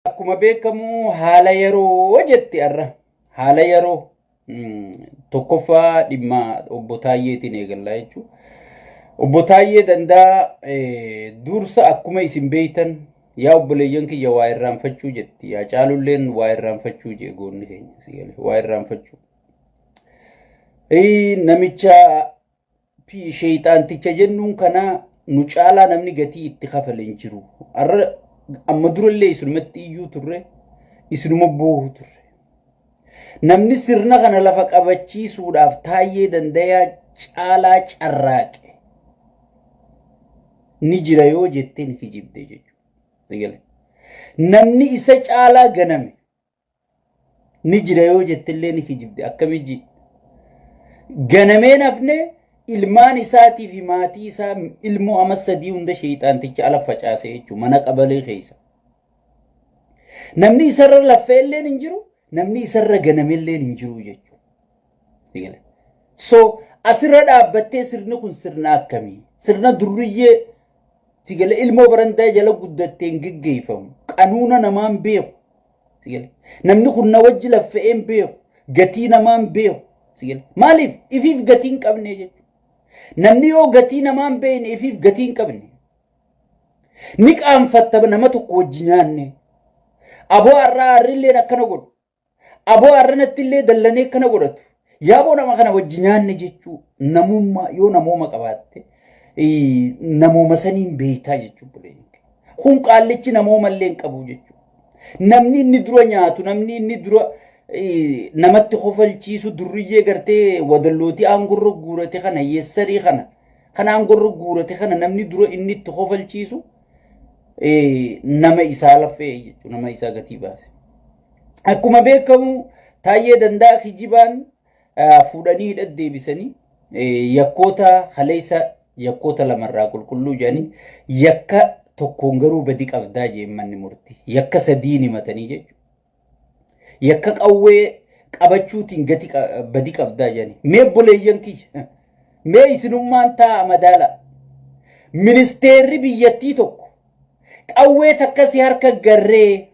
Akkuma beekamu haala yeroo jetti arra. Haala yeroo tokkoffaa dhimma obbo Taayyeetiin eegallaa jechuudha. Obbo Taayyee dandaa dursa akkuma isin beektan yaa obboleeyyan kiyya waa irraanfachuu jetti. Yaa caalulleen waa irraanfachuu jee goonni keenya si gale waa irraanfachuu. Namicha Sheeyxaanticha jennuun kana nu caalaa namni gatii itti kafale hin jiru. Har'a amma durallee isinumatti iyyuu turre isinuma boohu turre. Namni sirna kana lafa qabachiisuudhaaf taayyee dandayaa caalaa carraaqe ni jira yoo jetteen kijibde jechuudha. Namni isa caalaa ganame ni jira yoo jettillee ni kijibde akkamii ji ganameen hafne ilmaan isaatii fi maatii isaa ilmoo ama sadii hunda sheeyxaanticha ala facaase jechuun mana qabalee keessa. Namni isarra laffee illeen hin jiru, namni isarra ganame illeen hin jiru jechuudha. Eegale. So asirra dhaabbattee sirni kun sirna akkamii? Sirna durriyyee sigale ilmoo barandaa jala guddatteen geggeeffamu qanuuna namaan beeku. Sigale. Namni kun na wajji laffa'een beeku gatii namaan beeku. Sigale. Maaliif ifiif gatii hin qabne jechuudha. Namni yoo gatii namaan beekne ifiif gatii hin qabne. Ni qaanfatta nama tokko wajji nyaanne. Aboo har'aa harrilleen akkana godhu. Aboo arranatti illee dallanee kana godhatu. Yaaboo nama kana wajji nyaanne jechuu namummaa yoo namooma qabaatte namooma saniin beektaa jechuu buleen. Kun qaallichi namooma illee hin qabu jechuu. Namni inni dura nyaatu namni inni dura namatti kofalchiisu durriyyee gartee wadallootii aangorra guurate kana yeessarii kana kan aangorra guurate kana namni dura inni itti kofalchiisu nama isaa laffee jechuun nama isaa gatii baase. Akkuma beekamu taayyee danda'a kijibaan fuudhanii hidha deebisanii yakkoota haleessa yakkoota lamarraa qulqulluu jedhanii yakka tokkoon garuu badi qabdaa jeen manni murtii yakka sadiin himatanii jechuudha. Yakka qawwee qabachuutiin gati badi qabdaa jedhani. Mee obboleeyyan kiyya mee isinummaan taa'a madaala. Ministeerri biyyattii tokko qawwee takka si harka garree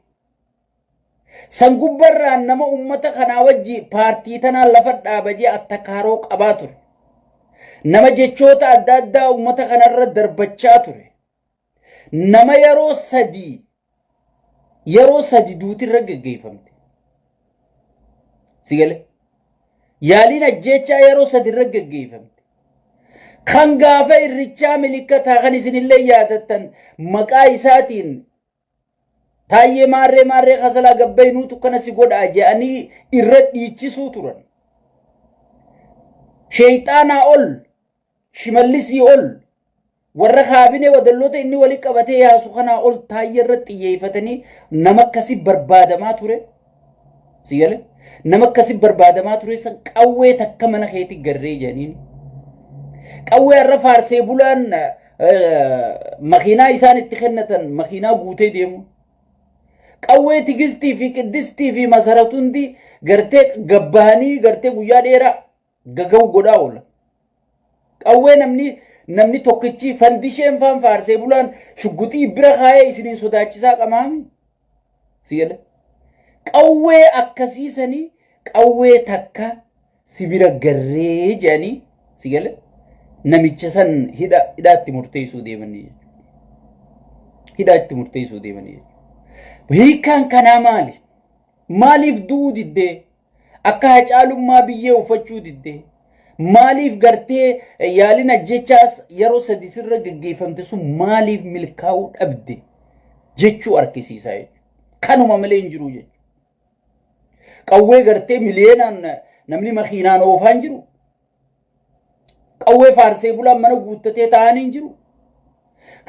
san gubbarraan nama ummata kanaa wajji paartii tanaan lafa dhaabajee attakaaroo qabaa ture. Nama jechoota adda addaa ummata kanarra darbachaa ture. Nama yeroo sadii yeroo sadi duuti irra geggeeffamte. Si galee? Yaaliin ajjeechaa yeroo sadi irra geggeeffamte. Kan gaafa irrichaa milikkataa kan isinillee yaadattan maqaa isaatiin taayyee maarree maarree kasalaa gabbayinuutu kana si godhaa je'anii irra dhiichisuu turan. Sheeyxaanaa ol Shimallisii ol warra kaabinee wadalloota inni wali qabatee yaasu kanaa ol taayya irratti xiyyeeffatanii nama akkasi barbaadamaa ture. Si gale? Nama akkasi barbaadamaa ture san qawwee takka mana keetti garree jedhaniin. Qawwee har'a faarsee bulaan makiinaa isaan itti kennatan makiinaa guutee deemu. Qawwee tigistii fi qiddistii fi masaratundi gartee gabbahanii gartee guyyaa dheeraa gagahu godhaa oola. Qawwee namni namni tokkichi fandisheen faan faarsee bulaan shugguxii bira kaayee isiniin sodaachisaa qamaami. Si gala. Qawwee akkasii sanii qawwee takka si bira garree jedhanii si gala. Namicha san hidha hidhaatti murteessuu deemanii jechuudha. Hidhaatti murteessuu deemanii jechuudha. Hiikaan kanaa maali? Maaliif du'uu diddee? Akka Hacaalummaa biyyee uffachuu didde? Maaliif gartee yaalin ajjechaas yeroo sadi sirra geggeeffamte sun maaliif milkaa'uu dhabde jechuu argisiisaa jechuudha. Kanuma malee hin jiru jechuudha. Qawwee gartee miliyeenaan namni makiinaan oofaan jiru Qawwee faarsee bulaan mana guuttatee taa'an hin jiru.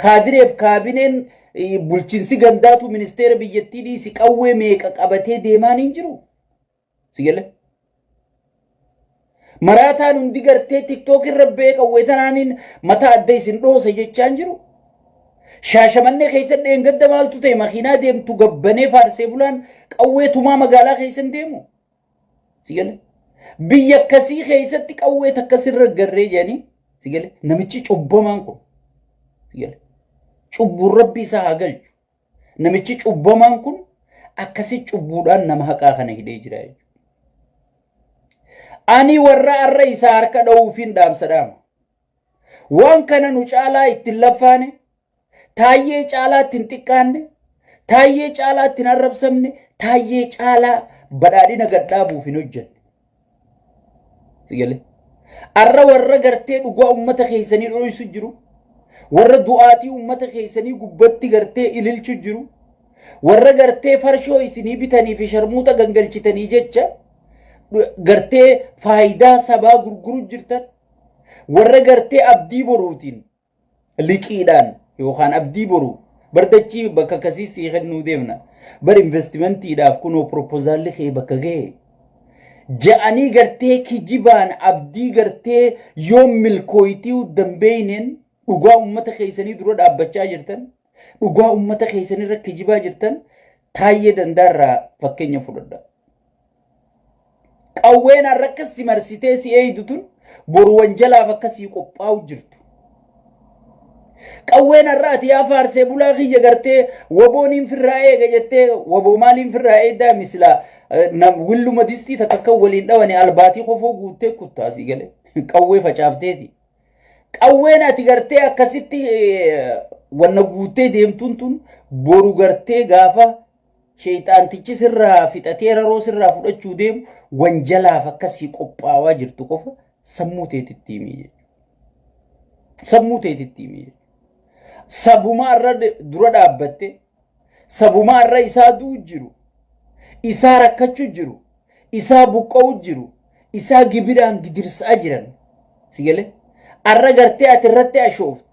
Kaadireef kaabineen eh, bulchinsi gandaatu ministeera biyyattii dhiisi qawwee meeqa qabatee deemaan hin jiru. Si galee? Maraataan hundi gartee tiktook irra ba'ee qawwee tanaaniin mataa adda isin dhoosa jechaa hin jiru. Shaashamannee keessatti dheengadda maaltu ta'e makiinaa deemtu gabbanee faarsee bulaan qawwee tumaa magaalaa keessa hin deemu. Sigale. Biyya akkasii keessatti qawwee takka sirra garree jedhanii sigale. Namichi cubbamaan kun sigale. Cubbuun rabbi isaa haa galchu. Namichi cubbamaan kun akkasi cubbuudhaan nama haqaa kana hidhee jira jechuudha. Ani warra arra isaa harka dha'uufiin dhaamsa dhaama. Waan kana nu caalaa itti hin laffaane, taayyee caalaa itti hin xiqqaanne, taayyee caalaa itti hin arrabsamne, taayyee caalaa badhaadhina gad dhaabuuf hin hojjenne. Sigalee. Arra warra gartee dhugaa uummata keessanii dho'isu jiru. Warra du'aatii uummata keessanii gubbatti gartee ililchu jiru. Warra gartee farshoo isinii bitanii fi sharmuuxa gangalchitanii jecha gartee faayidaa sabaa gurguru jirtan Warra gartee abdii boruutiin liqiidhaan yookaan abdii boruu bardachii bakka akkasii sii kennuu deemna. Bar investimentiidhaaf kunoo proposaalli kee bakka ga'e. Ja'anii gartee kijibaan abdii gartee yoo milkooyitiiw danbeeyneen dhugaa uummata keessanii dura dhaabbachaa jirtan. Dhugaa ummata keessan irra kijibaa jirtan taayyee dandaa irraa fakkeenya fudhadha. Qawween har'a akka si marsitee si eeydu tun boru wanjalaaf akka sii qophaa'u jirtu. Qawween har'a ati yaa faarsee bulaa kiyya gartee waboon hin firraa eega jettee waboo maaliin firraa eeddaa misilaa willuma distii takka akka waliin dhawane albaatii kofoo guuttee kuttaasii galee qawwee facaafteeti. Qawween ati gartee akkasitti wanna guuttee deemtuun tun boru gartee gaafa sheeyxaantichi sirraa fixatee raroo sirraa fudhachuu deemu wanjalaaf akkasii qophaawaa jirtu qofa sammuu teetitti himii jechuudha. Sammuu teetitti himii jechuudha. Sabuma irra dura dhaabbattee sabumaa irra isaa du'u jiru, isaa rakkachu jiru, isaa buqqa'u jiru, isaa gibiraan gidirsaa jiran. Si galee? Arra gartee ati irratti ashooftu.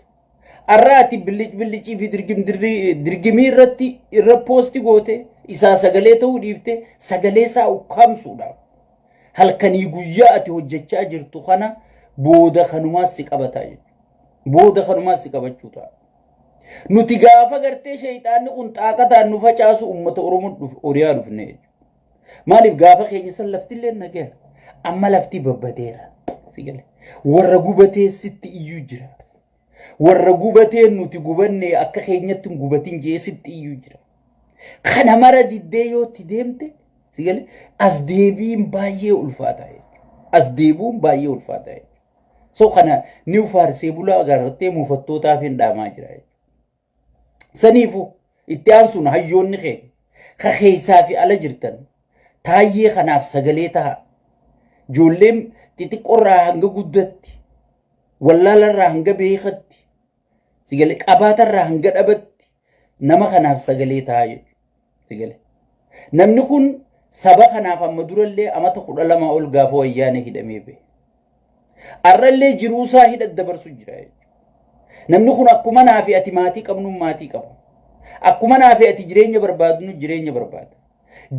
Arra ati billic billicii fi dirgim dirri- dirgimii irratti irra poosti goote isaa sagalee ta'uu dhiifte sagalee isaa ukkaamsuudhaaf. Halkanii guyyaa ati hojjechaa jirtu kana booda kanumaas si qabataa jechuudha. Booda kanumaas si qabachuu ta'a. Nuti gaafa gartee sheeyxaanni kun xaaqataan nu facaasu uummata Oromoo dhuf Oriyaa dhufne jechuudha. Maaliif gaafa keenya san laftillee nageera. Amma lafti babbadeera. Si gale. Warra gubatee sitti iyyuu jira. Warra gubatee nuti gubannee akka keenyatti hin gubatin jee sitti iyyuu jira. Kana mara diddee yoo itti deemte si gale as deebiin baay'ee ulfaataa jechuudha. As deebiin baay'ee ulfaataa jechuudha. So kana ni faarsee bulaa agartee muufattootaaf hin dhaamaa jira. Saniifu itti aansuun hayyoonni keenya ka keessaa fi ala jirtan taayyee kanaaf sagalee taha. Ijoolleen xixiqqoorraa hanga guddatti wallaalarraa hanga beekatti Sigale qabaata irraa hanga dhabatti nama kanaaf sagalee ta'a jechuudha. Sigale. Namni kun saba kanaaf amma durallee amata kudha lama ol gaafa wayyaanee hidhamee ba'e. Arrallee jiruusaa hidha dabarsu jira jechuudha. Namni kun akkuma naa fi ati maatii qabnuun maatii qaba. Akkuma naa fi ati jireenya barbaadnu jireenya barbaada.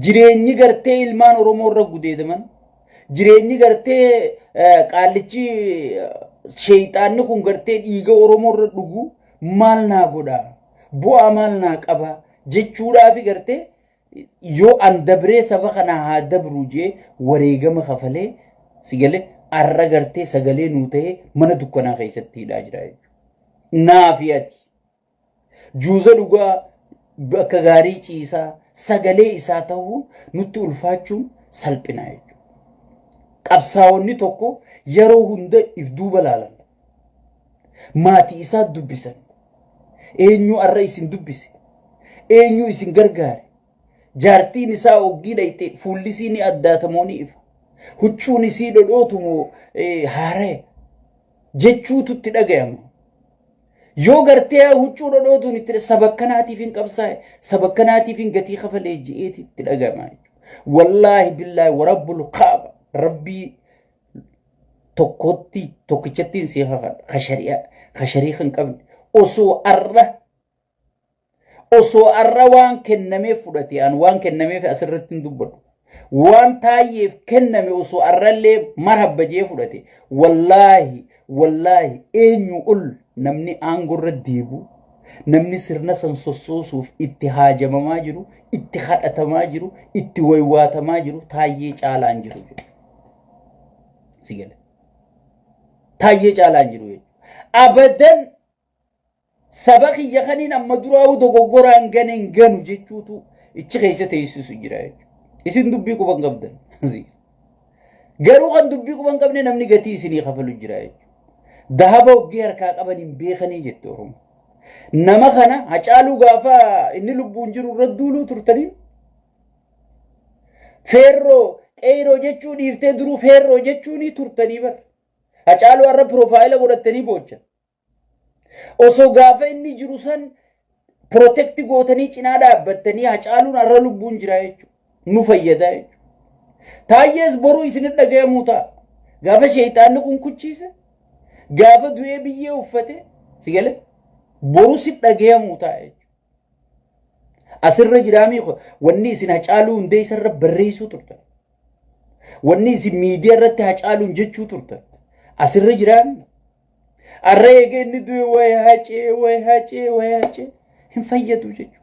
Jireenyi gartee ilmaan Oromoo irra gudeedaman, jireenyi gartee qaallichi sheeyxaanni kun gartee dhiiga Oromoo irra dhugu maal naa godha? Bu'aa maal naa qaba? jechuudhaafi gartee yoo an dabree saba kanaa haa dabru jee wareegama kafalee sigalee arra gartee sagalee nuu ta'ee mana dukkanaa keessatti hidhaa jira jechuudha. Naafi ati Juuza dhugaa bakka gaarii ciisaa sagalee isaa ta'uun nutti ulfaachuun salphinaa jechuudha. Qabsaa'onni tokko yeroo hunda if duuba laalan. Maatii isaa dubbisan. Eenyu har'a isin dubbise? Eenyu isin gargaare? Jaartiin isaa oggii dhayxe fuulli isii ni addaatamoo ni ifa. Huccuun isii dhodhootumoo haaraya. jechuutu itti dhagayama. Yoo gartee huccuu dhodhootuun itti sabakkanaatiif hin qabsaa'e sabakkanaatiif hin gatii kafalee ji'eeti itti dhagayama. Wallaahi billaahi warabbul kaaba rabbii tokkotti tokkichattiin si kakadha. Kasharii kan qabne osoo arra Osoo arra waan kennameef fudhate an waan kennameef asirratti hin dubbadhu. Waan taayyeef kenname osoo arrallee marhabba jee fudhate. Wallaahi wallaahi eenyu ol namni aangorra deebu namni sirna san sossoosuuf itti haajamamaa jiru itti kadhatamaa jiru itti waywaatamaa jiru taayyee caalaan jiru jedhu. Si gale. Taayyee caalaan jiru jechuudha. Abadan Saba kiyya kaniin amma duraa'uu dogoggoraan gane hin ganu jechuutu ichi keessa teessisu jira jechuudha. Isin dubbii quban qabdan. Garuu kan dubbii quban qabne namni gatii isinii kafalu jira jechuudha. Dahaba hoggii harkaa qaban hin beekanii jette Oromoo. Nama kana hacaaluu gaafa inni lubbuun jiru irra duuluu turtanii feerroo qeeyroo jechuu dhiiftee duruu feerroo jechuunii turtanii bar. Hacaaluu har'a piroofaayila godhattanii boochan. Osoo gaafa inni jiru san protect gootanii cinaa dhaabbattanii hacaaluun har'a lubbuun jira jechuudha. Nu fayyada jechuudha. Taayyees boruu isin dhaga'amuu ta'a. Gaafa sheeyxaanni kun kuchiise, gaafa du'ee biyyee uffate, si galee boruu si dhaga'amuu ta'a jechuudha. Asirra jiraamii kun wanni isin hacaaluu hundee isarra barreessuu turtan. Wanni isin miidiyaa irratti hacaaluun jechuu turtan. Asirra jiraamii. Har'a eega inni du'e waa'ee hacee waa'ee hacee waa'ee hacee hin fayyadu jechuudha.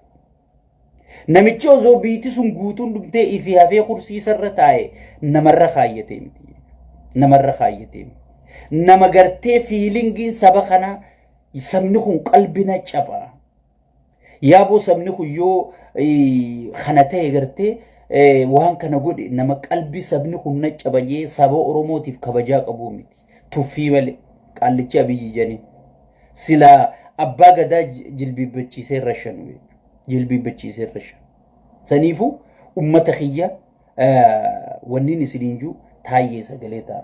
Namichi osoo biitti sun guutuun dhumtee ifi hafee kursiisarra taa'e namarra kaayyatee miti. Namarra kaayyatee miti. Nama gartee fiilingiin saba kanaa sabni kun qalbina caba. Yaaboo sabni kun yoo kana ta'e gartee waan kana godhe nama qalbii sabni kun na cabajee saba Oromootiif kabajaa qabuu miti. Tuffii malee qaallichi abiyyi janii. Silaa abbaa gadaa jilbiibbachiisee rashan jilbiibbachiisee rashan. Saniifuu ummata kiyya wanniin isiniin juu taayyee sagalee ta'a.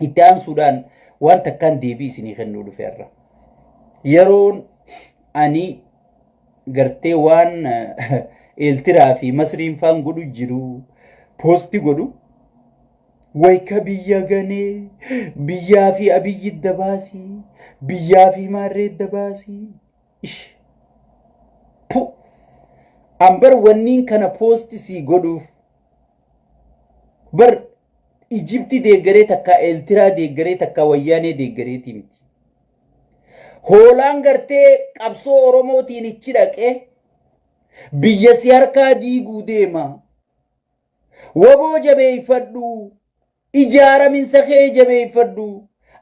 Itti aansuudhaan waan takkaan deebii isinii kennuu dhufeerra. Yeroon ani gartee waan eeltiraa fi masriin faan godhu jiru poosti godhu wayka biyya ganee biyyaa fi abiyyi idda baasii biyyaa fi maarree idda baasii ish pu an bar wanniin kana poosti sii godhuuf bar ijibti deeggaree takkaa eeltiraa deeggaree takkaa wayyaanee deeggareetii miti Hoolaan gartee qabsoo Oromootiin ichi dhaqee biyya si harkaa diiguu deema. Waboo jabeeffadhu, ijaaraminsa kee jabeeffadhu,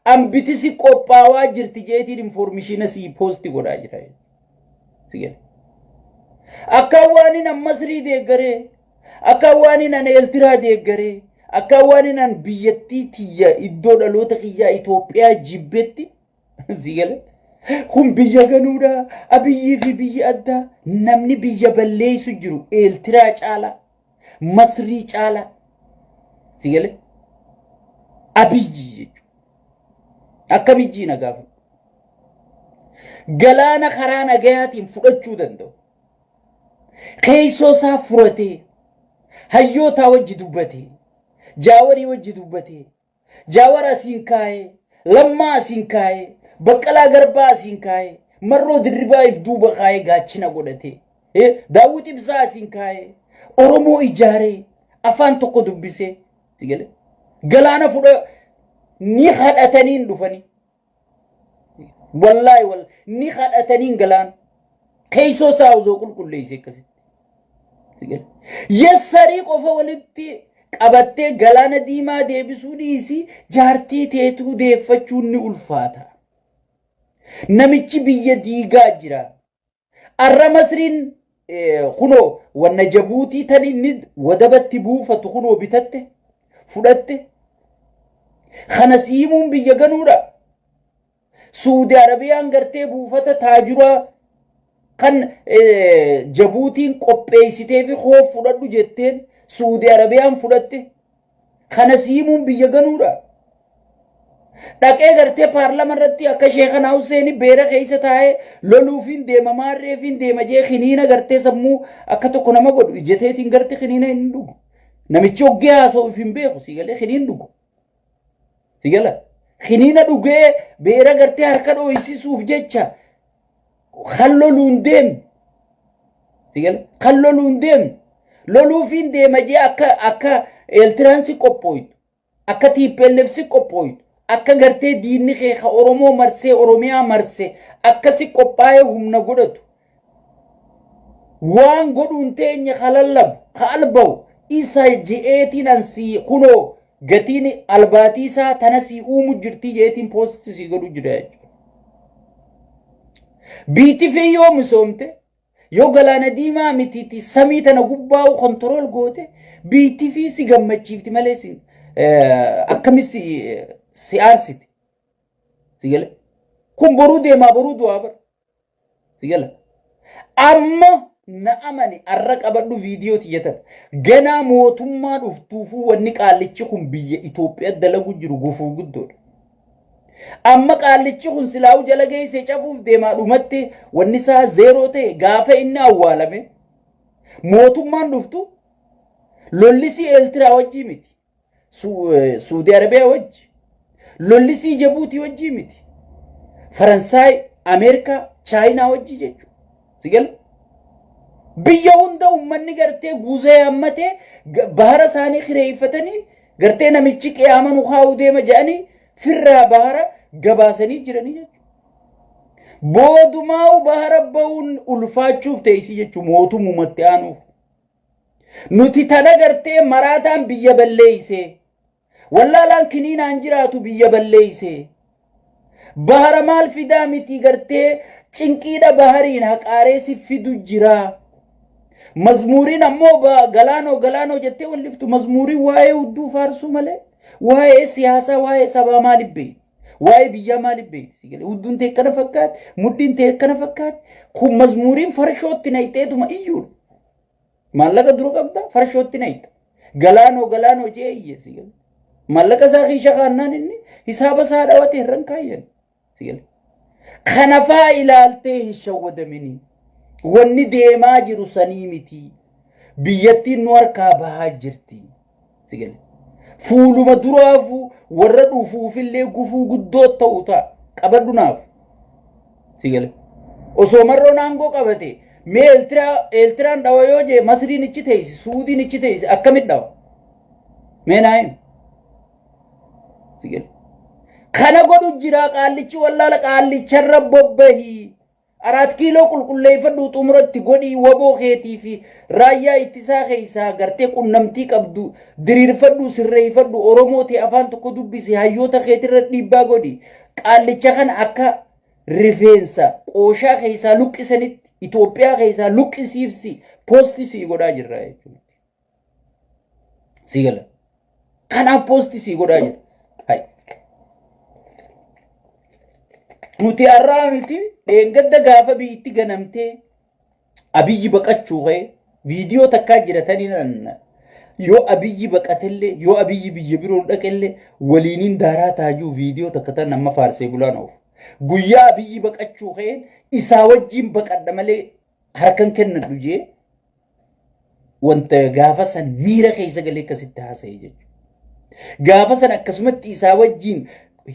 ambitisi qophaawaa jirti jeetiin informishiina sii poosti godhaa jira. si jedha akka waan inni masrii deeggaree akka waan inni eeltiraa deeggaree akka waan inni biyyattii tiyya iddoo dhaloota kiyyaa Itoophiyaa jibbetti si gale kun biyya ganuudha abiyyii fi biyyi addaa namni biyya balleessu jiru eeltiraa caalaa Masrii caalaa si galee abiyyi jechuudha. Akka abiyyi na gaafa. Galaana karaa nagayaatiin fudhachuu danda'u. Keessoo isaa furatee hayyootaa wajji dubbatee jaawarii wajji dubbatee Jaawar asiin kaayee, Lammaa asiin kaayee, Baqqalaa Garbaa asiin kaayee, Marroo Dirribaa if duuba kaayee gaachina godhatee, eh, Daawwit Ibsaa asiin kaayee, Oromoo ijaaree, afaan tokko dubbisee, si galee? Galaana fudha ni kadhatanii hin dhufanii. Wallaahi wal ni kadhataniin galaan keessoo isaa osoo qulqulleesse akkasitti. Yassarii qofa walitti qabattee galaana diimaa deebisuu dhiisi jaartii teetuu deeffachuun ni ulfaata. Namichi biyya diigaa jira. Arra Masriin kunoo wanna jabuutii tan inni wadabatti buufatu kunoo bitatte fudhatte kana si himuun biyya ganuudha. Suudi Arabiyaan gartee buufata taajuraa kan jabuutiin qopheessitee fi hoof fudhadhu jetteen Suudi Arabiyaan fudhatte Kana si himuun biyya ganuudha. Dhaqee gartee paarlama irratti akka sheekanaa Husseeni beera keessa taa'ee loluufiin deema maarreefiin deema jee kiniina gartee sammuu akka tokko nama godhu ijateetiin garte kiniina hin dhugu. Namichi oggee haasa'uuf hin beeku si galee kiniin dhugu. Si gala. Kiniina dhugee beera gartee harka dhooysisuuf jecha kan loluun deemu sigala kan loluun deemu loluufiin deema jee akka akka eeltiraansi qophooytu akka tiippeellefsi qophooytu akka gartee diinni kee ka oromoo marsee oromiyaa marse akkasi qophaa'ee humna godhatu waan godhuun teenya ka lallabu ka albahu isa je'eetiin ansii kunoo Gatiin albaatii isaa tana sii uumu jirtii jeetiin poostii sii godhu jira jechuudha. Biitifii yoo misoomte yoo galaana diimaa mitiiti samii tana gubbaa'u kontirool goote biitifii si gammachiifti malee si akkamis si aarsiti. Kun boruu deemaa boruu du'aa bara. Sigala. Amma na amani arra qabadhu viidiyoo tiyyatan. Ganaa mootummaa dhuftuufuu wanni qaallichi kun biyya Itoophiyaa dalagu jiru gufuu guddoodha. Amma qaallichi kun silaa'u jala geessee cabuuf deemaa dhumatti wanni isaa zeeroo ta'e gaafa inni awwaalame mootummaan dhuftu lollisii Eeltiraa wajjii miti. Suudii Arabiyaa wajji lolli sii Jabuutii wajjii miti. Faransaay, Ameerikaa, Chaayinaa wajjii jechuudha. Si gala? Biyya hunda uummanni gartee guuzee hammatee bahara isaanii kireeffatanii gartee namichi qiyaama nu kaa'uu deema jedhanii firraa bahara gabaasanii jiranii jechuudha. Boodumaa'u bahara ba'uun ulfaachuuf teessii jechuudha mootummumatti aanuuf. Nuti tana gartee maraataan biyya balleeyse. Wallaalaan kiniinaan jiraatu biyya balleeyse. Bahara maal fidaa miti gartee cinqiidha bahariin haqaaree si fidu jira. Mazmuuriin ammoo ba- galaanoo galaanoo jettee walliftu mazmuuriin waa'ee hudduu faarsuu malee waa'ee siyaasaa waa'ee sabaa maal beekti? Waa'ee biyyaa maal beekti? Hudduun tee akkana fakkaatti, mudhiin tee akkana fakkaatti. Kun mazmuuriin farshootti nayxeetuma iyyuudha. Maallaqa duru qabda farshootti nayta. Galaanoo galaanoo jee iyyeessi gala. Maallaqa isaa kiisha kaannaan inni hisaaba isaa dhawate irran kaayyan. Sigala. Kanafaa ilaaltee hin shawwadamini. Wanni deemaa jiru sanii miti. Biyyattiin nu harkaa bahaa jirti. Si gale. Fuuluma duraafuu warra dhufuufillee gufuu guddoo ta'u ta'a. Qabadhu naaf. Si gale. Osoo marroon aangoo qabate mee Eeltiraa Eeltiraan dhawa yoo jee Masriin ichi teessi Suudiin ichi teessi akkamit dhawa? Mee naa himi. Si gale. Kana godhu jira qaallichi wallaala qaallicharra bobbahii. Araat kiiloo qulqulleeffadhuu xumuratti godhii waboo keetii fi raayyaa ittisaa keessaa gartee qunnamtii qabdu diriirfadhuu sirreeffadhu Oromoo ta'e afaan tokko dubbisi hayyoota keetirra dhiibbaa godhi qaallicha kana akka rifeensa qooshaa keessaa luqqisanitti Itoophiyaa keessaa luqqisiifsi poostii sii godhaa jirra jechuudha. Sii gala. Kanaaf poosti sii godhaa jira. Hai. Nuti har'aa miti dheengadda gaafa biyyatti ganamtee abiyyi baqachuu ka'e viidiyoo takkaa jiratanii nan yoo abiyyi baqatellee yoo abiyyi biyya biroo dhaqellee waliiniin daaraa taajuu viidiyoo takka tan amma faarsee bulaan oofu. Guyyaa abiyyi baqachuu ka'e isaa wajjin baqadha malee harkan kennadhu jee wanta gaafa san miira keessa galee akkasitti haasa'e jechuudha. Gaafa san akkasumatti isaa wajjin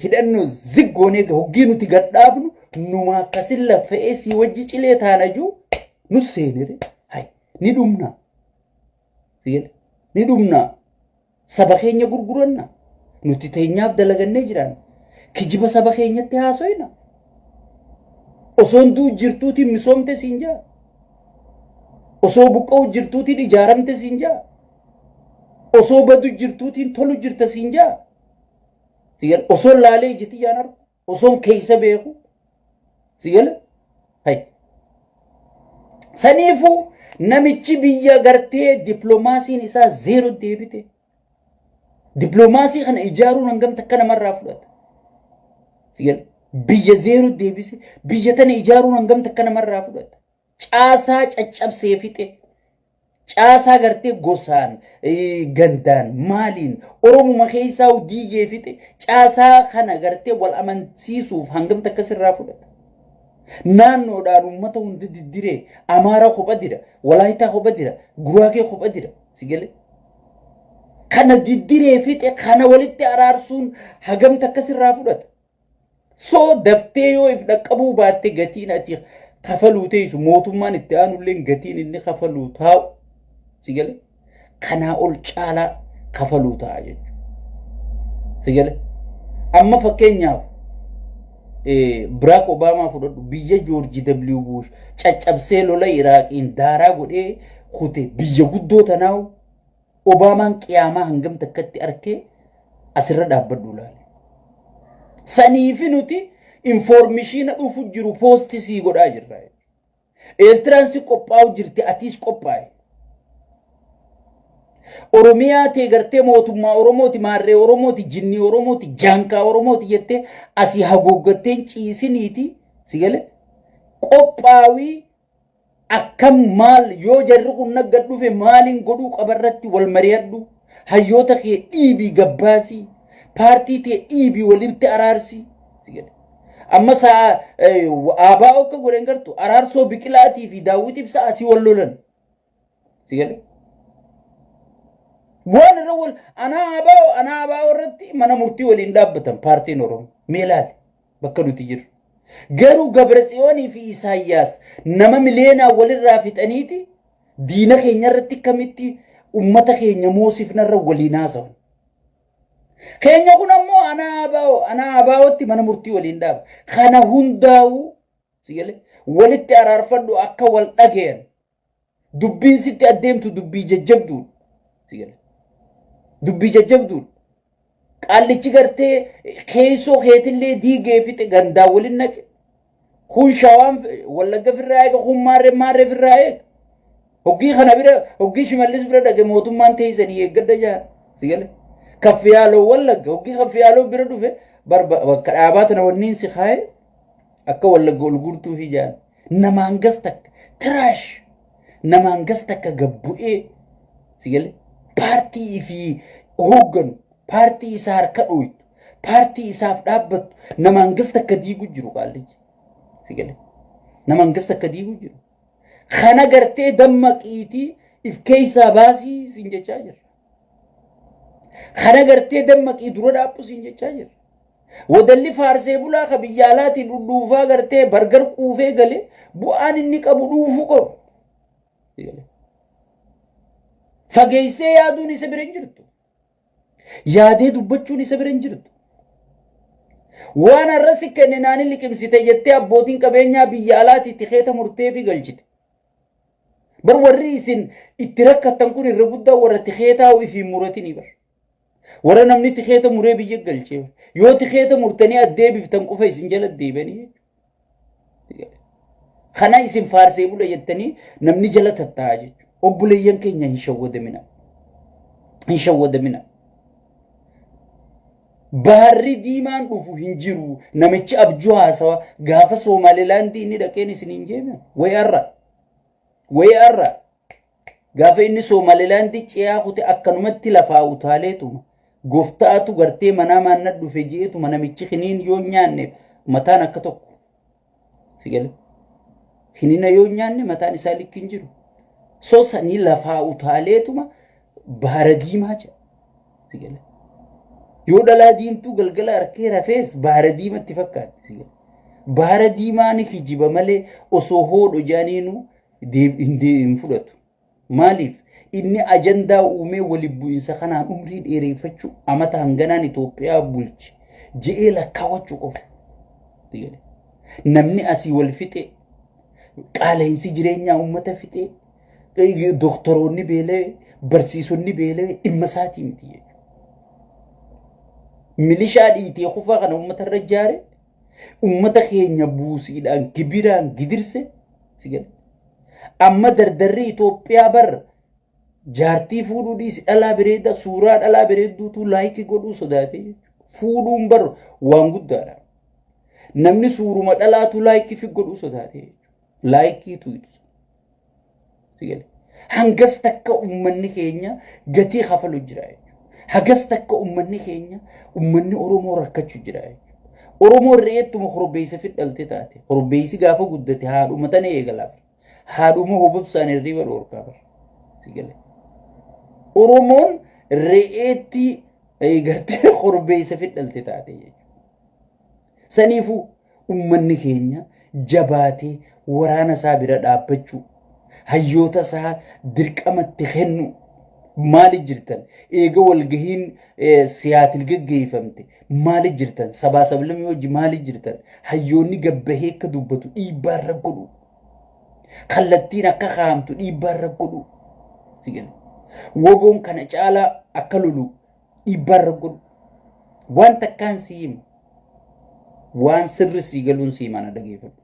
hidhannoo ziggoonee hoggii nuti gad dhaabnu numa akkasin laffa'ee sii wajji cilee taana juu nu seenire hay ni dhumna. Ni dhumna. Saba keenya gurguranna. Nuti teenyaaf dalagannee jiraanna. Kijiba saba keenyatti haasoyna. Osoon du'u jirtuutiin misoomte siin jaa. Osoo buqqa'u jirtuutiin ijaaramte siin jaa. Osoo badu jirtuutiin tolu jirta siin jaa. Osoo laalee ijiti jaan argu. osoon keessa beeku si gala hay saniifu namichi biyya gartee dippiloomaasiin isaa zeero deebite dippiloomaasii kana ijaaruun hangam takka namarraa fudhata si gala biyya zeero deebise biyya tana ijaaruun hangam takka namarraa fudhata caasaa caccabsee fixe Caasaa gartee gosaan, gandaan, maaliin Oromuma keessaa diigee fixe caasaa kana gartee wal amansiisuuf hangam takka sirraa fudhata? Naannoodhaan uummata hunda diddiree Amaaraa kopha dira, Walaayitaa kopha dira, Guraagee kopha dira. Si galee? Kana diddiree fixe kana walitti araarsuun hagam takka sirraa fudhata? Soo daftee yoo if dhaqqabuu baatte gatiin ati kafaluu teessu mootummaan itti aanulleen gatiin inni kafaluu taa'u si gale kanaa ol caalaa kafaluu ta'a jechuudha. Si gale amma fakkeenyaaf Biraak Obaamaa fudhadhu biyya Joorji W. Buush caccabsee lola Iraaqiin daaraa godhee kute biyya guddoo tanaawu Obaamaan qiyaamaa hangam takkatti arkee asirra dhaabbadhu ilaali. Saniifi nuti infoormishiina dhufu jiru poosti sii godhaa jirra. Eertiraan si qophaa'u jirti atiis qophaa'e. Oromiyaa tee gartee mootummaa Oromooti maarree Oromooti jinnii Oromooti jaankaa Oromooti jettee asii haguuggatteen ciisiniiti si gale qophaawii akkam maal yoo jarri kun nagga dhufe maaliin godhuu qaba irratti wal mari'adhu hayyoota kee dhiibii gabbaasii paartii tee dhiibii walitti araarsii si jedhe. amma sa'a eh, aabaa akka godhan gartu araarsoo biqilaatii fi daawwitiif sa'a si wal lolan Si gale? Waan irra wal anaa abaa anaa abaa irratti mana murtii waliin dhaabbatan paartiin Oromoo mee ilaali bakka nuti jirru. Garuu Gabratsiyoonii fi Isaayyaas nama miliyeenaa walirraa fixaniiti diina keenya irratti akkamitti ummata keenya moosifnarra waliin haasawan. Keenya kun ammoo anaa abaa'o anaa abaa'otti mana murtii waliin dhaaba. Kana hundaa'uu si galee walitti araarfadhu akka wal dhagayan Dubbiin sitti addeemtu dubbii jajjabduudha. Si gala. Dubbii jajjabduudha. Qaallichi gartee keessoo keetillee diigee fixe gandaa waliin naqe. Kun shawaan wallagga firraa eega kun maarree maarree firraa eega. Hoggii kana bira hoggii shimallis bira dhage mootummaan teessanii eeggadha jaara. Si gala. Kaffiyaaloo wallagga hoggii kaffiyaaloo bira dhufe barba bakka dhaabaa tana wanniin si kaa'e akka wallagga ol guurtuufi jaara. namaan gas takka tiraash namaan gas takka gabbu'ee si galee paartii fi hoogganu paartii isaa harka dhooytu paartii isaaf dhaabbattu namaan gas takka diigu jiru qaallichi si galee namaan gas takka diigu jiru kana gartee dammaqiitii if keessaa baasii siin jechaa jirra. Kan agartee dammaqii dura dhaabbu siin jechaa jira. Wadalli faarsee bulaa ka biyya alaatiin dhudhuufaa gartee bargar quufee gale bu'aan inni qabu dhuufuu qabu. Fageessee yaaduun isa bira hin jirtu. Yaadee dubbachuun isa bira hin jirtu. Waan har'a si kenne naani liqimsite jettee abbootiin qabeenyaa biyya alaatiitti keeta murtee fi galchite. Bar warri isin itti rakkattan kun irra guddaa warra tikeetaa ifiin muratini bar. Warra namni tikeeta muree biyya galchee bar. Yoo tikeeta murtanii addeebiftan qofa isin jala deebanii. Kana isin faarsee bula jettanii namni jala tattaa'aa jechuudha. Obboleeyyan keenya hin shawwadamina. Hin shawwadamina. Baarri diimaan dhufu hin jiru. Namichi abjuu haasawa gaafa Soomaalilaandii inni dhaqeen isin hin jeeme. Wayi arra. Wayi arra. Gaafa inni Soomaalilaandii ce'aa kute akkanumatti lafaa utaaleetuma. Gooftaatu gartee manaa maannat dhufe je'eetuma namichi kiniin yoo nyaanne mataan akka tokko. Si gale? Kinina yoo nyaanne mataan isaa likki hin jiru. So sanii lafaa utaaleetuma baara diimaa jedha. Si gale? Yoo dhalaa diimtuu galgala harkee rafees baara diimatti fakkaatti. Si gale? Baara diimaa ni kijiba malee osoo hoodho jaaniinuu hin fudhatu. Maaliif? Inni ajandaa uumee waliin bu'insa kanaan umrii dheereeffachuu amata hanganaan Itoophiyaa bulche je'ee lakkaawachuu qofa. Namni asii wal fixee qaala'insi jireenyaa uummata fixee doktoroonni beela'ee barsiisonni beela'ee dhimma isaatii miti jechuudha. Milishaa dhiitee kufaa kana uummata irra ijaare ummata keenya buusiidhaan gibiraan gidirse si gale. Amma dardarri Itoophiyaa bar jaartii fuudhuu dhiisi dhalaa bireedda suuraa dhalaa bireedduutu laayikii godhuu sodaate fuudhuun bar waan guddaadha. Namni suuruma dhalaatu laayikii fi godhuu sodaate laayikiitu ibsa. Hangas takka uummanni keenya gatii kafalu jira jechuudha. Hagas takka uummanni keenya uummanni Oromoo rakkachuu jira jechuudha. Oromoo re'eettuma korbeessa fidhalte taate. Korbeessi gaafa guddate haadhuma tana eegala. Haadhuma hobobsaan hirriba dhoorkaa bara. Sigale. Oromoon re'eetti eh, gartee korbeessa fidhalte taate jechuudha. Saniifuu Ummanni keenya jabaatee waraana isaa bira dhaabbachuu, hayyoota isaa dirqama itti kennuu, maali jirtan eega walgahiin siyaatil geggeeffamte maali jirtan sabaa sablamii wajji maali jirtan hayyoonni gabbahee akka dubbatu dhiibbaa irra godhu kallattiin akka kaa'amtu dhiibbaa irra godhu woboon kana caalaa akka lolu Dhiibbaarra godhu. Waan takkaan si himu. Waan sirri sii galuun sii mana dhageeffadhu.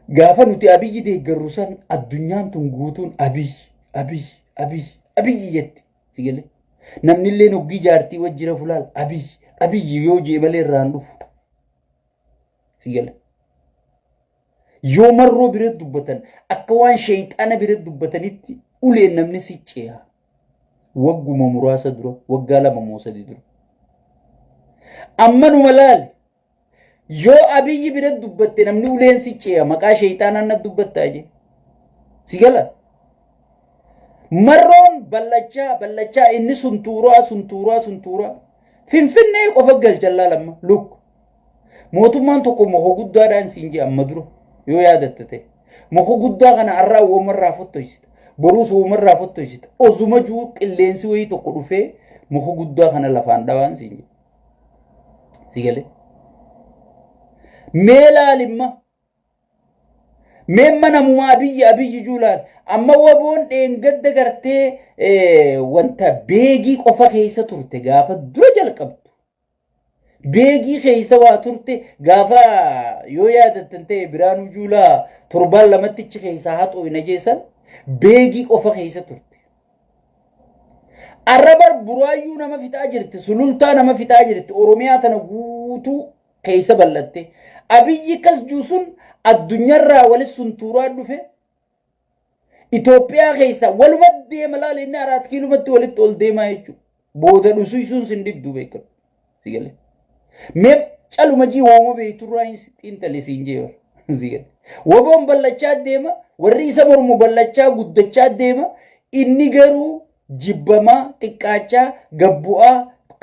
Gaafa nuti abiyyi deeggarru san addunyaan tun guutuun abiyyi abiyyi abiyyi abiyyi jette. Si galee? Namni illee hoggii jaartii wajjira fulaal abiyyi abiyyi yoo jee malee irraan dhufu. Si galee? Yoo marroo bira dubbatan akka waan sheeyxaana bira dubbatanitti uleen namni si ceeha. Wagguma muraasa dura, waggaa lama moo sadii dura. Ammanuma laali. Yoo abiyyi bira dubbatte namni uleen si ceeha maqaa sheeyxaanaan na dubbattaa jee. Si gala? Marroon ballachaa ballachaa inni suntuuraa suntuuraa suntuuraa. Finfinnee qofa galchan laalamma. Look. Mootummaan tokko moko guddaadhaan siin jedha amma dura yoo yaadatta ta'e. Moko guddaa kana har'aa uumarraa fottoysita. Boruus uumarraa fottoysita. Osuma juu qilleensi wayii tokko dhufee moko guddaa kana lafaan dhawaan siin jedha. Si galee? Mee laalimma. Mee manamumaa abiyyi abiyyi juu laal. Amma waboon dheengadda gartee wanta beegii qofa keessa turte gaafa dura jalqabdu. Beegii keessa waa turte gaafa yoo yaadattan ta'e Biraanuu Juulaa torbaan lamattichi keessaa haxoo hin ajeessan beegii qofa keessa turte. Arrabar buraayyuu nama fixaa jirti, sulultaa nama fixaa jirti, Oromiyaa tana guutuu keessa bal'atte. Abiyyi kas juu sun addunyaarraa walis suntuuraa dhufe Itoophiyaa keessa waluma deema laali inni araat kiilumatti walitti ol deemaa jechuudha. Booda dhusiisuun sin diddu beekamu. Si galee. Mee caluma jii wooma beekturraa hin xiinxali siin jee bara. Si galee. Waboon ballachaa deema warri isa mormu ballachaa guddachaa deema inni garuu jibbamaa xiqqaachaa gabbu'aa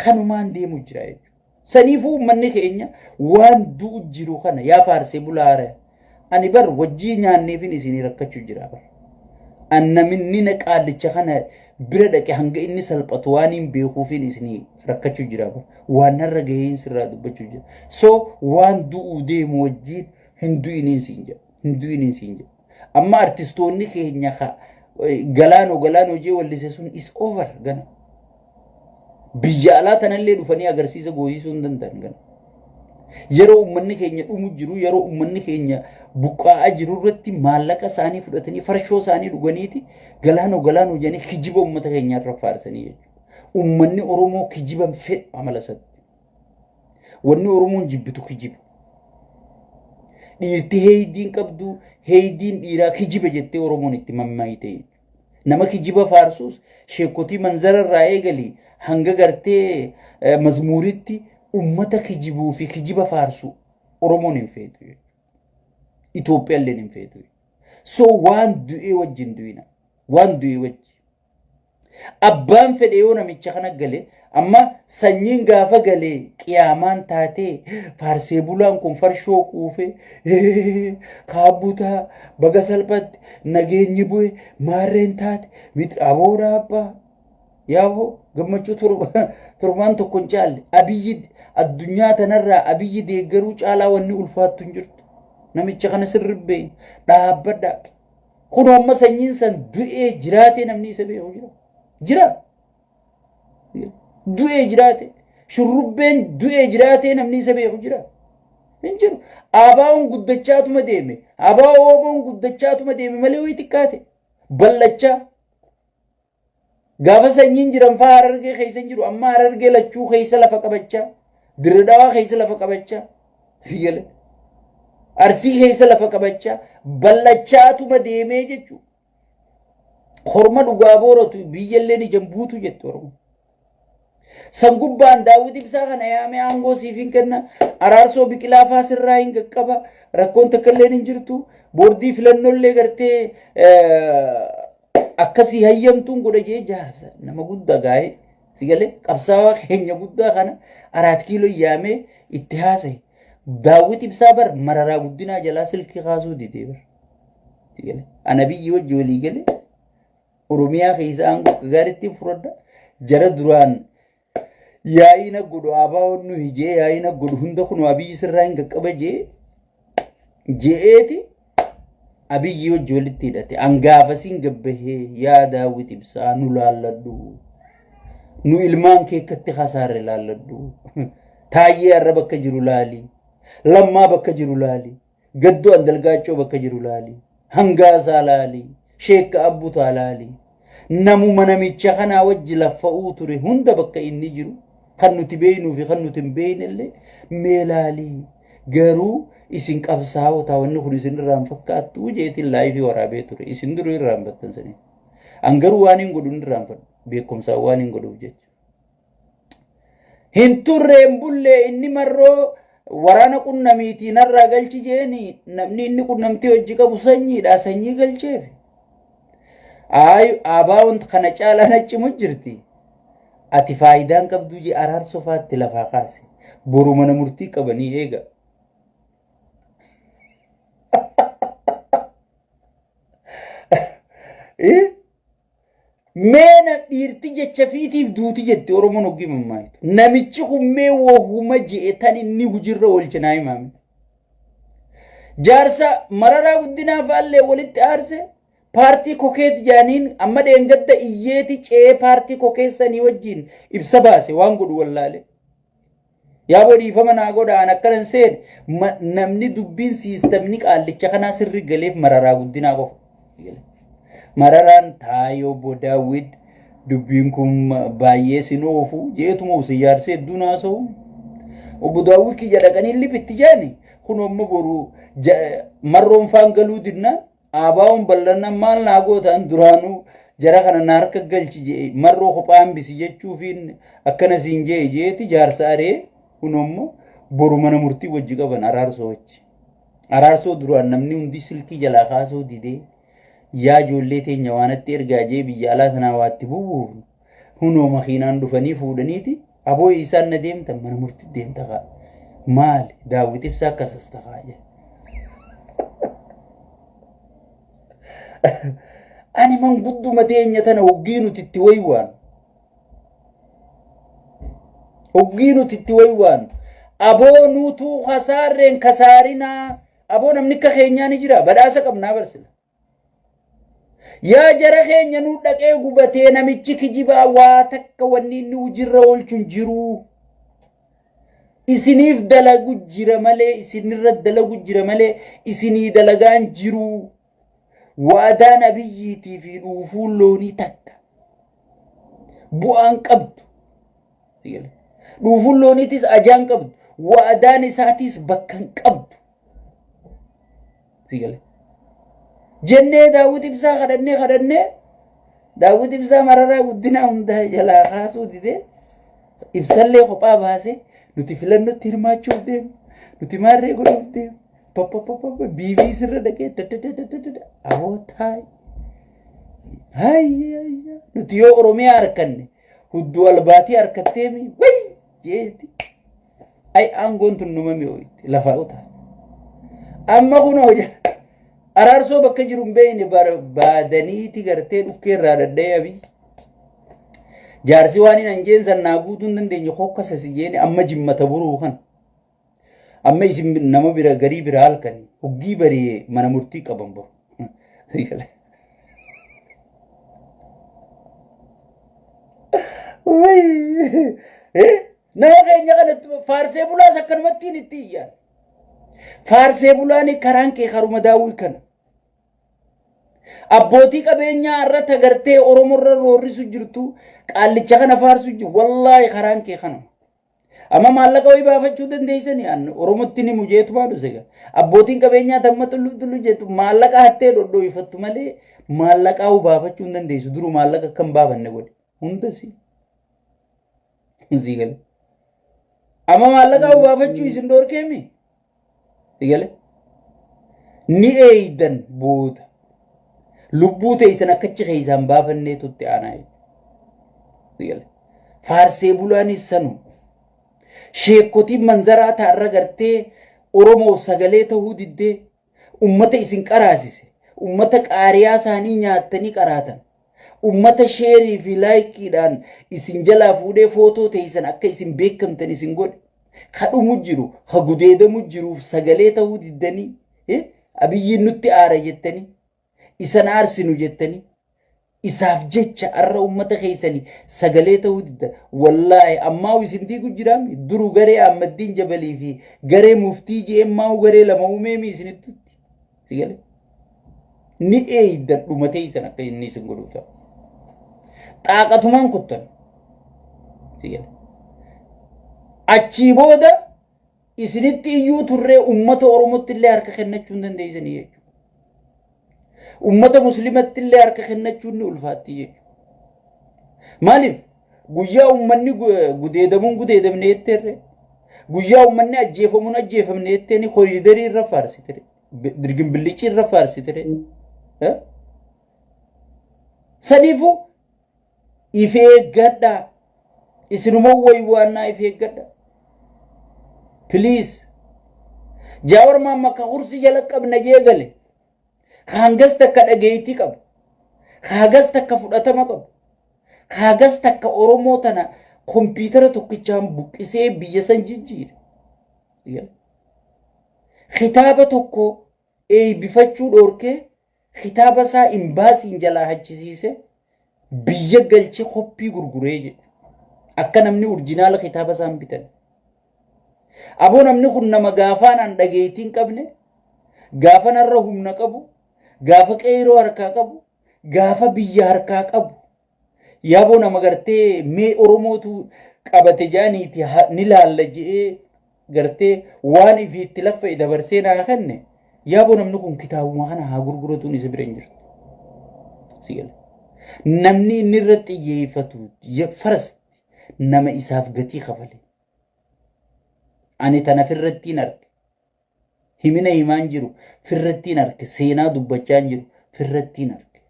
kanumaan deemu jira jechuudha. Saniifuu ummanni keenya waan du'u jiru kana yaa faarsee bulaare ani bar wajjii nyaanneefin isinii rakkachu jira bar. An naminni na qaallicha kana bira dhaqe hanga inni salphatu waan hin beekuufin isinii rakkachu jira bar. Waan narra gaheen sirraa dubbachu jira. So waan du'uu deemu wajjiin hin du'iniin siin jedha. Hin du'iniin siin jedha. Amma artistoonni keenya ka galaanoo galaanoo jee wallise sun is over gana. Biyya alaa tanallee dhufanii agarsiisa gooyisuu hin danda'an gana. Yeroo uummanni keenya dhumu jiru yeroo uummanni keenya buqqaa'aa jiru irratti maallaqa isaanii fudhatanii farshoo isaanii dhuganiiti galaanoo galaanoo jedhanii kijiba uummata keenya irra faarsanii jechuudha. Uummanni Oromoo kijiban fedhu amala isaatti. Wanni Oromoon jibbitu kijiba. Dhiirti heeydiin qabdu heeydiin dhiiraa kijiba jettee Oromoon itti mammaayite jechuudha. Nama kijiba faarsuus sheekotii manzara irraa eegalii hanga gartee eh, mazmuuritti ummata kijibuu fi kijiba faarsu Oromoon hin feetu jechuudha. Itoophiyaalleen hin feetu. So waan du'ee wajjin du'ina. Waan du'ee wajjin. Abbaan fedhe yoo namicha kana gale amma sanyiin gaafa galee qiyaamaan taatee faarsee bulaan kun farshoo quufee kaabbutaa baga salphatti nageenyi bu'e maarreen taate miti aboora abbaa yaaboo gammachuu torbaan tokko hin caalle abiyyi addunyaa tanarraa abiyyi deeggaruu caalaa wanni ulfaattu hin jirtu namicha kana sirribbee dhaabbadhaa. Kun amma sanyiin san du'ee jiraatee namni isa beeku jira. Jira. Du'ee jiraatee. Shurrubbeen du'ee jiraatee namni isa beeku jira. Hin jiru. Abaawoon guddachaatuma deeme. Abaawoo ooboon guddachaatuma deeme malee wayii xiqqaate. Bal'achaa. Gaafa sanyiin jiran faa harargee keessa hin jiru. Amma harargee lachuu keessa lafa qabachaa. Dirridhawaa keessa lafa qabachaa. Siyyale. Arsii keessa lafa qabachaa. Bal'achaatuma deemee jechuudha. Korma dhugaa booratu biyyalleen ijaan buutu jette Oromoo. San gubbaan daawwiti ibsaa kana yaamee aangoo siif hin kenna. Araarsoo biqilaa faa sirraa hin qaqqaba. Rakkoon takka illee hin jirtu. Boordii filannoo illee gartee akkasii hayyamtuun godha jee jaarsa nama guddaa gaa'ee si galee qabsaawaa keenya guddaa kana araat kiiloo yaamee itti haasa'e. Daawwiti ibsaa bar mararaa guddinaa jalaa silkii kaasuu didee bar. Ana biyyi wajji walii galee Oromiyaa keessa aangoo akka gaariitti hin fudhadha. Jara duraan yaa'ii na godhu abaawoon nu hijee yaa'ii na godhu hunda kun abiyyi sirraa hin qaqqaba jee je'eeti abiyyi wajji walitti hidhate angaafasiin gabbahee yaa daawwit ibsaa nu laalladhu nu ilmaan kee akkatti kasaarre laalladhu taayyee arra bakka jiru laali lammaa bakka jiru laali Gaddoo Andalgaachoo bakka jiru laali. Hangaasaa laali. Sheekka Abbutaa laali. Namuma namicha kanaa wajji laffa'uu ture hunda bakka inni jiru kan nuti beeynuu fi kan nuti hin beeynellee mee laali. Garuu isin qabsaa'otaa wanni kun isin irraa hin fakkaattuu jeetiin laayifii waraabee ture. Isin duruu irraa hin battan sanii. An garuu waan hin godhu hin irraanfadhu. Beekumsaan waan hin godhuuf jecha. Hin turre hin bulle inni marroo waraana qunnamiitii narraa galchi jeeni namni inni qunnamtii hojii qabu sanyiidha sanyii galcheef. Aayu aabaa wanti kana caalaa nachimu jirti. Ati faayidaan qabduu jee araarso faatti lafaa kaase. Boru mana murtii qabanii eega. Eh? Mee na dhiirti jecha fiitiif duuti jette Oromoon hoggii mammaayitu. Namichi kun mee wahuma je'e tan inni hujirra oolche naa himaame. Jaarsa mararaa guddinaa faallee walitti aarse paartii kokeet jaaniin amma dheengadda iyyeeti ce'ee paartii kokeessanii wajjiin ibsa baase waan godhu wallaale. Yaaboo dhiifama naa godha an akkana hin seene Ma- namni dubbiin siistamni qaallicha kanaa sirri galeef mararaa guddinaa qofa. Mararaan taayoo bodaawwid dubbiin kun ma- baay'ee sin oofu jeetuma usin yaarsee hedduu naasa'u. Obbo Daawwii kiyya dhaqanii liphitti jaani kun amma boru ja- marroon faan galuu dinnaan Aabaa'oon bal'anna maal naa gootaan duraanuu jara kana na harka galchi jee marroo kophaa hambisi jechuufiin akkana siin jee jeeti jaarsa aree kunommo boru mana murtii wajji qaban araarsoo wajji. Araarsoo duraan namni hundi silkii jalaa kaasuu didee yaa ijoollee teenya waanatti ergaa jee biyya alaa sanaa waatti bubuufnu. Hunoo makiinaan dhufanii fuudhaniiti aboo isaan na deemta mana murti deemta kaa. Maali daawwit ibsaa akkasas takaa jedhe. Ani mangudduma teenya tana hoggii nuti itti waywaan. Hoggii nuti itti waywaan. Aboo nuutuu kasaarreen kasaarinaa. Aboo namni akka keenyaa ni jira badhaasa qabnaa barsina. Yaa jara keenya nu dhaqee gubatee namichi kijibaa waa takka wanni inni hujirra oolchun jiruu. Isiniif dalagu jira malee isinirra dalagu jira malee isinii dalagaan jiruu. Waadaa nabiyyiitii fi dhuufuu loonii takka. Bu'aan qabdu. Dhuufuun looniitis ajaan qabdu. Waadaan isaatiis bakkan qabdu. Fiigale. Jennee daawwit ibsaa kadhannee kadhannee daawwit ibsaa mararaa guddinaa hundaa jalaa kaasuu didee ibsallee kophaa baasee nuti filannotti hirmaachuuf deemu nuti maarree godhuuf deemu pappapapapa biibii sirra dhaqee dadadadadada aboo taayi. Hayya hayya nuti yoo Oromiyaa harkanne hudduu albaatii harkatteemi wayii. jeetti. Ay aangoon tun numa mi'ooyte lafaa utaa. Amma kun hojja araarsoo bakka jiru hin beekne barbaadaniiti gartee dhukkee irraa dhadha'ee abii. Jaarsi waan hin anjeen san naa guutuu hin dandeenye hokkasa si jeeni amma jimmata buruu kan. Amma isin nama bira garii bira halkani hoggii bariyee mana murtii qaban bor. Nama keenya kana faarsee bulaas akkanumatti hin itti iyyaan. Faarsee bulaan karaan kee haruma daawwii kana. Abbootii qabeenyaa irra tagartee Oromoo irra roorrisu jirtu qaallicha kana faarsu jiru wallaahi karaan kee kanuma. Amma maallaqa wayii baafachuu dandeessanii an Oromootti ni mujeetu baadhu sega. Abbootiin qabeenyaa tamma tullu tullu jettu maallaqa hattee dhodhooyfattu malee maallaqaa uu baafachuu hin dandeessu duru maallaqa akka hin baafanne godhe hunda si. Sii gale. Amma maallaqaa uu baafachuu isin dhoorkeemi. Eegale? Ni eeydan booda. Lubbuu teeysan akkachi keeysaan baafannee tutti aanaa jechuudha. Eegale? Faarsee bulaanis sanu. Sheekotiin manzaraa taarra gartee Oromoof sagalee ta'uu diddee ummata isin qaraasise. Ummata qaariyaa isaanii nyaattanii qaraatan. Ummata sheerii fi laayikiidhaan isin jalaa fuudhee footoo teessan akka isin beekamtan isin godhe. Ka dhumu jiru, ka gudeedamu jiruuf sagalee ta'uu diddanii, eh, abiyyiin nutti aara jettanii, isan aarsinu jettanii, isaaf jecha arra ummata keessani sagalee ta'uu didda. Wallaahi ammaa isin diigu jiraami. Duru garee Ahmaddiin Jabalii fi garee muftii je'een maa'u garee lama uumeemi isinitti. Si gale? Ni eeydan dhuma teeysan akka inni isin godhu ta'a. Xaaqatumaan kuttan. Si gale? Achii booda isinitti iyyuu turree uummata Oromootti illee harka kennachuu hin dandeessanii jechuudha. Uummata Musliimatti illee harka kennachuun ni ulfaatti jechuudha. Maaliif? Guyyaa uummanni gudeedamuun gudeedamne jetteerre. Guyyaa uummanni ajjeefamuun ajjeefamne jetteeni koriidarii irra faarsitire. Dirgimbillichi irra faarsitire. Saniifuu if eeggadhaa. Isinuma waywaannaa if eeggadhaa. Please. Jaawar maamma akka kursi jala qabna jee gale. ka hangas takka dhageettii qabu, ka hagas takka fudhatama qabu, ka hagas takka Oromoo tana kompiitara tokkichaan buqqisee biyya san jijjiire. Yeah. Kitaaba tokko eeybifachuu dhoorkee kitaaba isaa imbaasiin jalaa hachisiise biyya galchee koppii gurguree jedhu akka namni orjinaala kitaaba isaan bitan aboo namni kun nama gaafaanaan dhageettiin qabne gaafa narra humna qabu gaafa qeeroo harkaa qabu gaafa biyya harkaa qabu yaaboo nama gartee mee oromootu qabate jaaniiti ni laalla je'ee gartee waan ifii itti laffa'e dabarsee naa kenne yaaboo namni kun kitaabuma kana haa gurguratuun isa bira hin jirtu. Si gala. Namni inni irra xiyyeeffatu ya- farasti nama isaaf gatii kafale. Ani tanaf irratti hin arge. Himina himaan jiru firrattiin arke seenaa dubbachaan jiru firrattiin arke.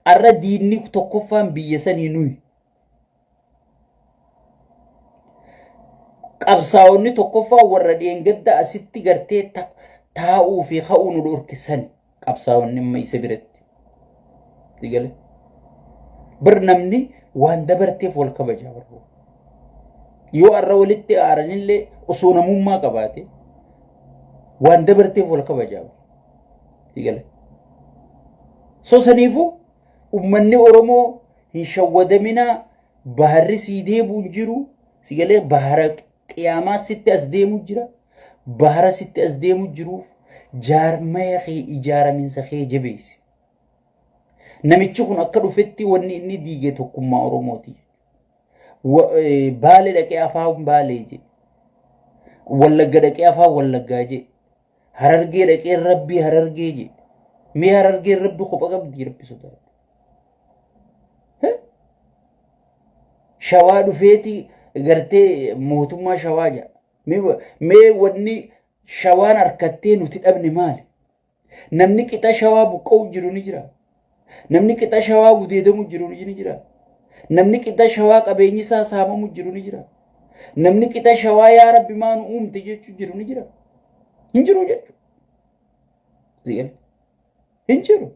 Arra diinni tokkoffaan biyya sanii nuyi. Qabsaa'onni tokkoffaan warra dheengadda asitti gartee taa'uu fi ka'uu nu dhorkisani. qabsaawan dhimma isa biratti. Digale. Bar namni waan dabarteef wal kabaja barbu. Yoo arra walitti aaranillee osoo namummaa qabaate waan dabarteef wal kabaja. Digale. So saniifuu ummanni Oromoo hin shawwadaminaa baharri sii deebuun jiru sigalee bahara Qiyaamaa sitti as deemu jira. Bahara sitti as deemu jiruuf jaarmaya kee ijaaraminsa kee jabeessi. Namichi kun akka dhufetti wanni inni diige tokkummaa Oromooti. Baale dhaqee afaan baalee jedhe. Wallagga dhaqee afaan wallaggaa jedhe. Harargee dhaqee rabbii harargee jee. Mee harargeen rabbi kopha qabdi rabbi sodaadhu. Shawaa dhufeeti gartee mootummaa shawaa jaa. Mee wanni shawaan harkattee nuti dhabne maali? Namni qixa shawaa buqqa'u jiru ni jira. Namni qixa shawaa gudeedamu jiru ni jira. Namni qixa shawaa qabeenyi isaa saamamu jiru ni jira. Namni qixa shawaa yaa rabbi maa nu uumte jechuu jiru ni jira. Hin jiru jechuudha. Ziyal. Hin jiru.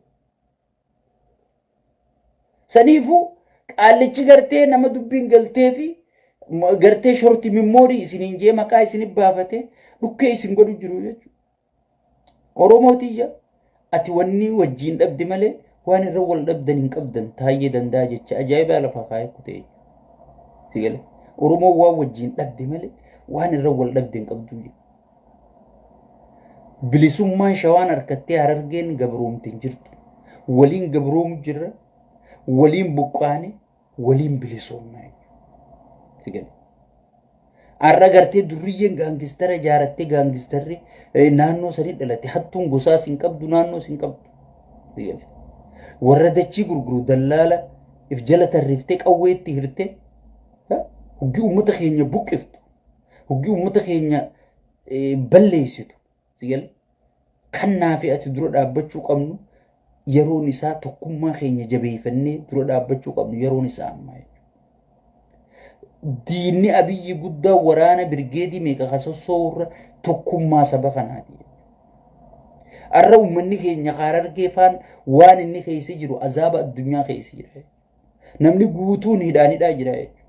Saniifuu qaallichi gartee nama dubbiin galtee fi gartee shorti mimmoorii isiniin jee maqaa isin baafate dhukkee isin godhu jiru jechuudha. Oromoo tiyya ati wanni wajjiin dhabde malee waan irra wal dhabdan hin qabdan taayyee danda'a jecha ajaa'ibaa lafaa kaa'ee kutee. Si gale. Oromoo waan wajjiin dhabde malee waan irra wal dhabde hin qabdu jedhe. Bilisummaan shawaan harkattee harargeen gabroomte hin jirtu. Waliin gabroomu jirra. Waliin buqqaane waliin bilisoomnaa jechuudha. Har'a gartee durriyyeen gaangistara ijaarattee gaangistarri naannoo sanii dhalate hattuun gosaa sin qabdu naannoo sin qabdu. Warra dachii gurguru dallaala if jala tarriftee qawwee itti hirtee huggi uummata keenya buqqiftu huggi uummata keenya balleessitu Sigal kan naafi ati dura dhaabbachuu qabnu yeroon isaa tokkummaa keenya jabeeffannee dura dhaabbachuu qabnu yeroon isaa amma diinni abiyyi guddaa waraana birgeedii meeqa kasossoo irra tokkummaa saba kanaati. Arra uummanni keenya kaarargee faan waan inni keessa jiru azaaba addunyaa keessa jira. Namni guutuun hidhaan hidhaa jira jechuudha.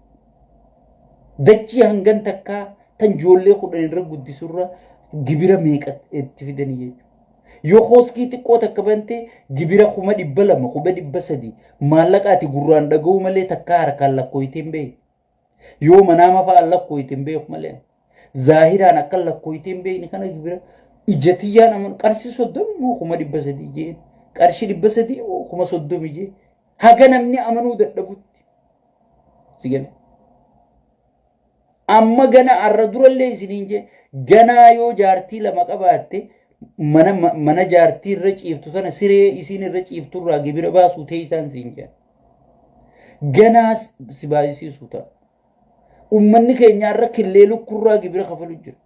Dachii hangan takkaa tan ijoollee kudhan irra guddisurra gibira meeqa itti fidanii jechuudha. Yoo kooskii xiqqoo takka bante gibira kuma dhibba lama kuma dhibba sadii maallaqa ati gurraan dhaga'uu malee takkaa harkaan lakkooytee hin beeku. Yoo manaama fa'aan lakkooyte hin beeku malee. Zaahiraan akkan lakkooyte hin beekne kana bira ija tiyyaan amanu qarshii soddomi moo kuma dhibba sadii jeen qarshii dhibba sadii moo kuma soddomi jeen haga namni amanuu dadhabutti. Si gale. Amma gana arra durallee isiniin jeen ganaa yoo jaartii lama qabaatte mana mana jaartii irra ciiftu sana siree isiin irra ciiftu irraa gibira baasuu teessaan siin jeen. Ganaa si baay'isiisu ta'a. Uummanni keenya irra killee lukkurraa gibira kafalu jira.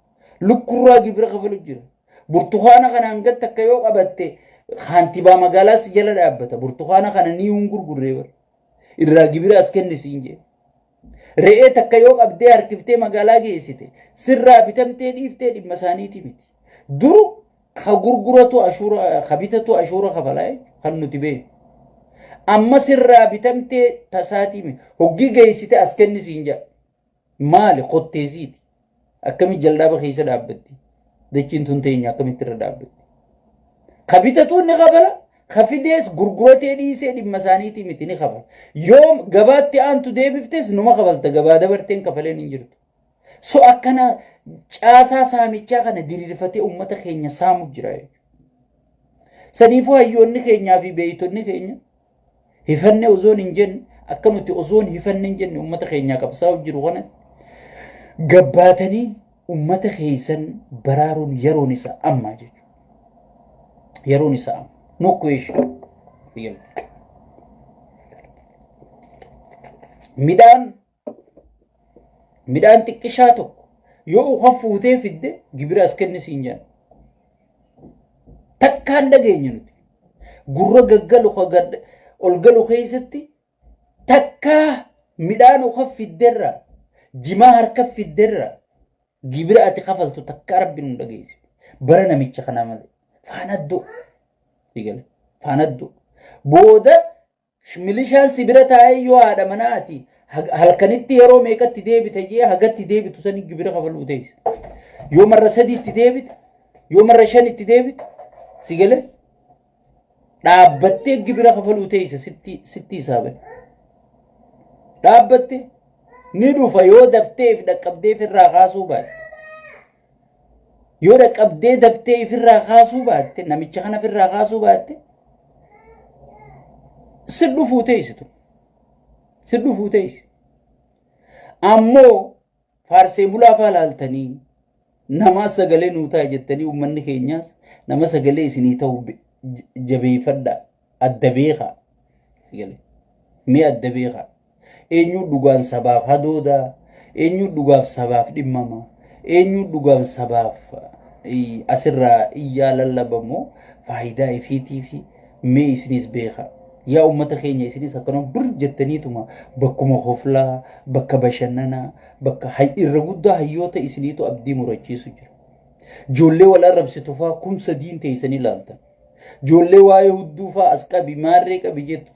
Lukkurraa gibira kafalu jira. Burtukaana kana hanga takka yoo qabatte kaantibaa magaalaa si jala dhaabbata. Burtukaana kana ni hin gurgurree bara. Irraa gibira as kenni siin jedhe. Re'ee takka yoo qabdee harkiftee magaalaa geessite sirraa bitamtee dhiiftee dhimma isaaniiti miti. Duru ka gurguratu ashuura ka bitatu ashuura kafalaa jechuudha kan nuti beeknu. Amma sirraa bitamtee tasaatii miti. Hoggii geessite as kenni siin jedha. Maali kotteesiiti. Akkamitti jaldaaba keessa dhaabbatti? Dachiin tun teenya akkamitti irra dhaabbatti? Ka bitatuun ni kabala, ka fidees gurguratee dhiisee dhimma isaaniitii miti ni kabala. Yoom gabaatti aantu deebiftes numa kabalta gabaa dabarteen kafaleen hin jirtu. So akkana caasaa saamichaa kana diriirfatee uummata keenya saamu jira jechuudha. Saniifuu hayyoonni keenyaa fi beeytonni keenya Hifanne osoon hin jenne akka nuti osoon hifanne hin jenne uummata keenyaa qabsaa'u jiru kana gabbaatanii uummata keessan baraaruun yeroon isaa ammaa jechuudha. Yeroon isaa amma. No question. Real. Midhaan Midhaan xiqqishaa tokko yoo ukan fuutee fidde gibira as kenni siin jedhan. Takkaan dhageenye nuti. Gurra gaggalu ol galu keessatti takkaa midhaan ukan fidderra jimaa harka fidderra gibira ati kafaltu takkaa rabbi nu dhageessi. Bara namicha kanaa malee. Faanaddoo. Faanaddoo. Booda Milishaan si bira taa'ee yoo haadha manaa ati halkanitti yeroo meeqatti deebita jee hagatti deebitu sanii gibira kafaluu teessa. Yoo marra sadiitti deebita, yoo marra shanitti deebita, si galee dhaabbattee gibira kafaluu teessa sitti sitti hisaaban. Dhaabbatte ni dhufa yoo dafteef dhaqqabdeef irraa kaasuu baate. Yoo dhaqqabdee daftee ifirraa kaasuu baatte namicha kana ifirraa kaasuu baatte si dhufuu teessitu. Si dhufuu teessi. Ammoo faarsee bulaa faa laaltanii namaa sagalee nuu ta'a jettanii uummanni keenyaas nama sagalee isinii ta'u jabeeffadhaa. adda beekaa gale mee adda beekaa eenyuu dhugaan sabaaf hadoodaa eenyuu dhugaaf sabaaf dhimmama eenyuu dhugaan sabaaf eh, asirraa iyyaa lallabamoo faayidaa ifiitii fi mee isinis beekaa yaa ummata keenya isinis akkanuma bir jettaniituma bakkuma hoflaa bakka bashannanaa bakka hay- irra guddaa hayyoota isiniitu abdii murachiisu jira Joollee wal arrabsitu faa kum sadiin teessanii laaltan. Joollee waa'ee hudduu faa as qabi maarree qabi jettu.